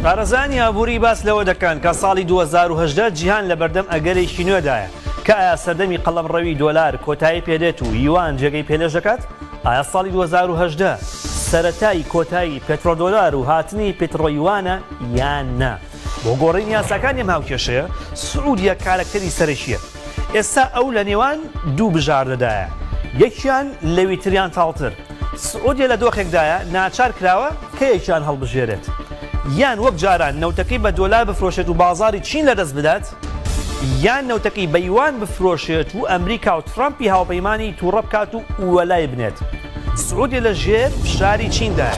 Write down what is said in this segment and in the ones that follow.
پارێزانی ئابووری باس لەوە دەکەن کە ساڵی 2010 جیهان لە بەردەم ئەگەرێکی نوێدایە کە ئایا سەردەمی قەڵەم ڕەوی دۆلار کۆتایی پێدێت و یوان جێگەی پێلێش دەکات ئایا ساڵی 2010 سەتای کۆتایی پترۆدۆلار و هاتنی پترۆیوانە یان نا بۆ گۆڕین یاساکانی ماوکێشەیە سعودیە کارەکتەری سەرەکیە ئێستا ئەو لە نێوان دوو بژاردەدایە، یەکیان لەوی تریان تاڵتر. سعودیە لە دۆخێکدایە ناچار کراوە کەیەکیان هەڵبژێرێت، یان وەک جاران نەوتەکەی بە دۆلار بفرۆشێت و بازاڕی چین لەدەست بدات، یان نەوتەکەی بە یوان بفرۆشێت و ئەمریکا و ترەمپی هاوپەیمانی تووڕە بکات و وەلای بنێت. سعودیە لە ژێر فشاری چیندایە،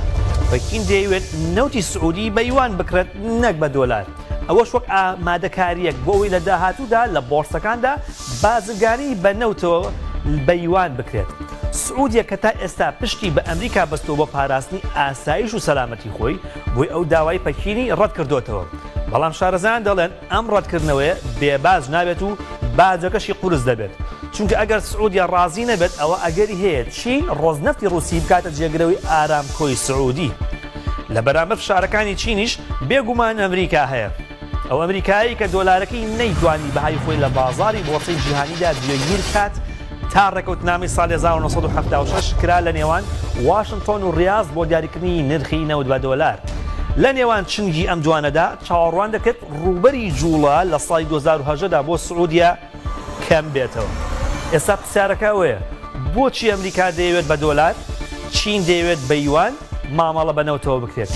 پەکین دەیەوێت نەوتی سعودی بە یوان بکڕێت نەک بە دۆلار. ئەوەش وەک ئامادەکارییەک بۆ ئەوەی لە داهاتوودا لە بۆڕسەکاندا بازرگانی بە نەوتەوە بە یوان بکرێت. سعودیە کە تا ئێستا پشتی بە ئەمریکا بەستووە بۆ پاراستنی ئاسایش و سەلامەتی خۆی، بۆی ئەو داوای پەکینی ڕەتکردۆتەوە. بەڵام شارەزایان دەڵێن ئەم ڕەتکردنەوەیە بێ باج نابێت و باجەکەشی قورس دەبێت. چونکە ئەگەر سعودیە ڕازی نەبێت ئەوە ئەگەری هەیە چین ڕۆزنەفتی ڕووسی بکاتە جێگرەوەی ئارامکۆی سعودی. لە بەرامبەر فشارەکانی چینیش بێ گومان ئەمریکا هەیە. ئەو ئەمریکایەی کە دۆلارەکەی نەیتوانی بەهای خۆی لە بازاڕی بۆڕسەی جیهانیدا جێگیر بکات تا ڕێکەوتنامەی ساڵی هەزار و نۆ سەد و حەفتا و شەش کرا لە نێوان واشنتۆن و ڕیاز بۆ دیاریکردنی نرخی نەوت بە دۆلار. لە نێوان چنگی ئەم دوانەدا چاوەڕوان دەکرێت ڕووبەری جووڵە لە ساڵی دوو هەزار و هەژدە دا بۆ سعودیە کەم بێتەوە ئێستا پرسیارەکە ئەوەیە بۆچی ئەمریکا دەیەوێت بە دۆلار چین دەیەوێت بە یوان مامەڵە بە نەوتەوە بکرێت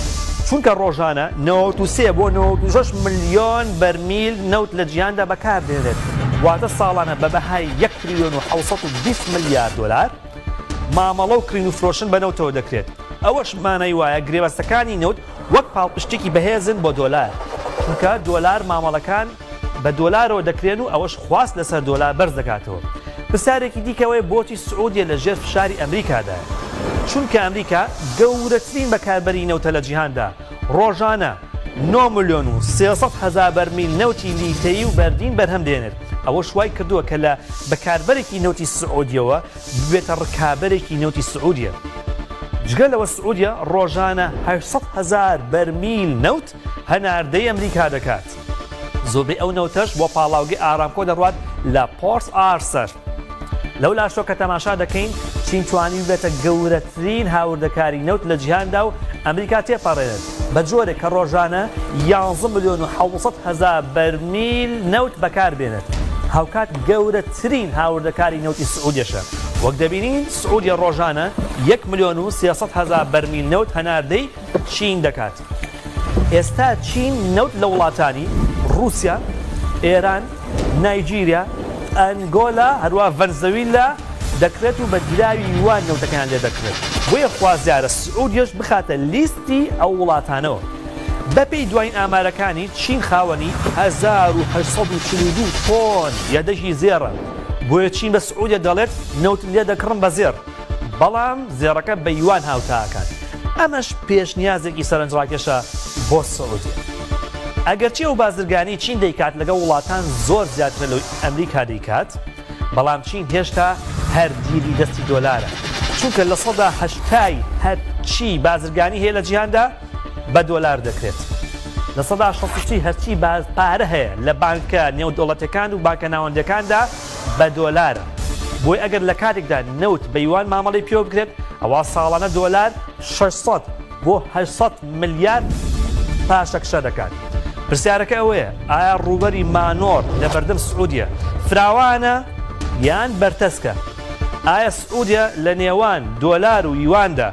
چونکە ڕۆژانە نەوەت و سێ بۆ نەوەت و شەش ملیۆن بەرمیل نەوت لە جیهاندا بەکاردێنێت واتە ساڵانە بە بەهای یەک تریلیۆن و حەوت سەد و بیست ملیار دۆلار مامەڵە و کڕین و فرۆشتن بە نەوتەوە دەکرێت ئەوەش مانای وایە گرێبەستەکانی نەوت وەک پاڵپشتێکی بەهێزن بۆ دۆلار چونکە دۆلار مامەڵەکان بە دۆلارەوە دەکرێن و ئەوەش خواست لەسەر دۆلار بەرز دەکاتەوە. پرسیارێکی دیکە ئەوەیە بۆچی سعودیە لە ژێر فشاری ئەمریکادایە؟ چونکە ئەمریکا گەورەترین بەکاربەری نەوتە لە جیهاندا، ڕۆژانە نۆ ملیۆن و سێ سەد هەزار بەرمیل نەوتی لیتەیی و بەردین بەرهەم دێنێت، ئەوەش وای کردووە کە لە بەکاربەرێکی نەوتی سعودیەوە ببێتە ڕکابەرێکی نەوتی سعودیە. جگە لەوە سعودیە ڕۆژانە هەشت سەد هەزار بەرمیل نەوت هەناردەی ئەمریکا دەکات، زۆربەی ئەو نەوتەش بۆ پاڵاوگەی ئارامکۆ دەڕوات لە پۆرت ئارسەر. لەو لاشەوە کە تەماشا دەکەین، چین توانی ببێتە گەورەترین هاوردەکاری نەوت لە جیهاندا و ئەمریکا تێپەڕێنێت، بە جۆرێک کە ڕۆژانە یانزە ملیۆن و حەوت سەد هەزار بەرمیل نەوت بەکاربێنێت، هاوکات گەورەترین هاوردەکاری نەوتی سعودیەشە، وەک دەبینین سعودیە ڕۆژانە یەک ملیۆن و سێ سەد هەزار بەرمیل نەوت هەناردەی چین دەکات. ئێستا چین نەوت لە وڵاتانی، ڕووسیا، ئێران، نایجیریا، ئەنگۆلا، هەروەها ڤەنزەویلا دەکڕێت و بە دراوی یوان نەوتەکەیان لێ دەکڕێت، بۆیە خوازیارە سعودیەش بخاتە لیستی ئەو وڵاتانەوە. بەپێی دوایین ئامارەکانی، چین خاوەنی هەزار و هەشت سەد و چل و دوو تۆن یەدەگی زێڕە، بۆیە چین بە سعودیە دەڵێت نەوتت لێ دەکڕم بە زێڕ. بەڵام زێڕەکە بە یوان هاوتا ئەکات، ئەمەش پێشنیازێکی سەرنجڕاکێشە بۆ سعودیە. ئەگەرچی ئەو بازرگانیی چین دەیکات لەگەڵ وڵاتان زۆر زیاترە لەوەی ئەمریکا دەیکات، بەڵام چین هێشتا هەر دیلی دەستی دۆلارە، چونکە لە سەدا هەشتای هەرچی بازرگانی هەیە لە جیهاندا بە دۆلار دەکرێت. لە سەدا شەست و سێی هەرچی پارە هەیە لە بانکە نێودەوڵەتییەکان و بانکە ناوەندییەکاندا بە دۆلارە، بۆیە ئەگەر لە کاتێکدا نەوت بە یوان مامەڵەی پێوە بکرێت، ئەوا ساڵانە دۆلار شەش سەد بۆ هەشت سەد ملیار پاشەکشە دەکات. پرسیارەکە ئەوەیە، ئایا ڕووبەری مانۆڕ لە بەردەم سعودیە فراوانە یان بەرتەسکە؟ ئایا سعودیە لە نێوان دۆلار و یواندا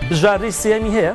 بژاردەی سێیەمی هەیە؟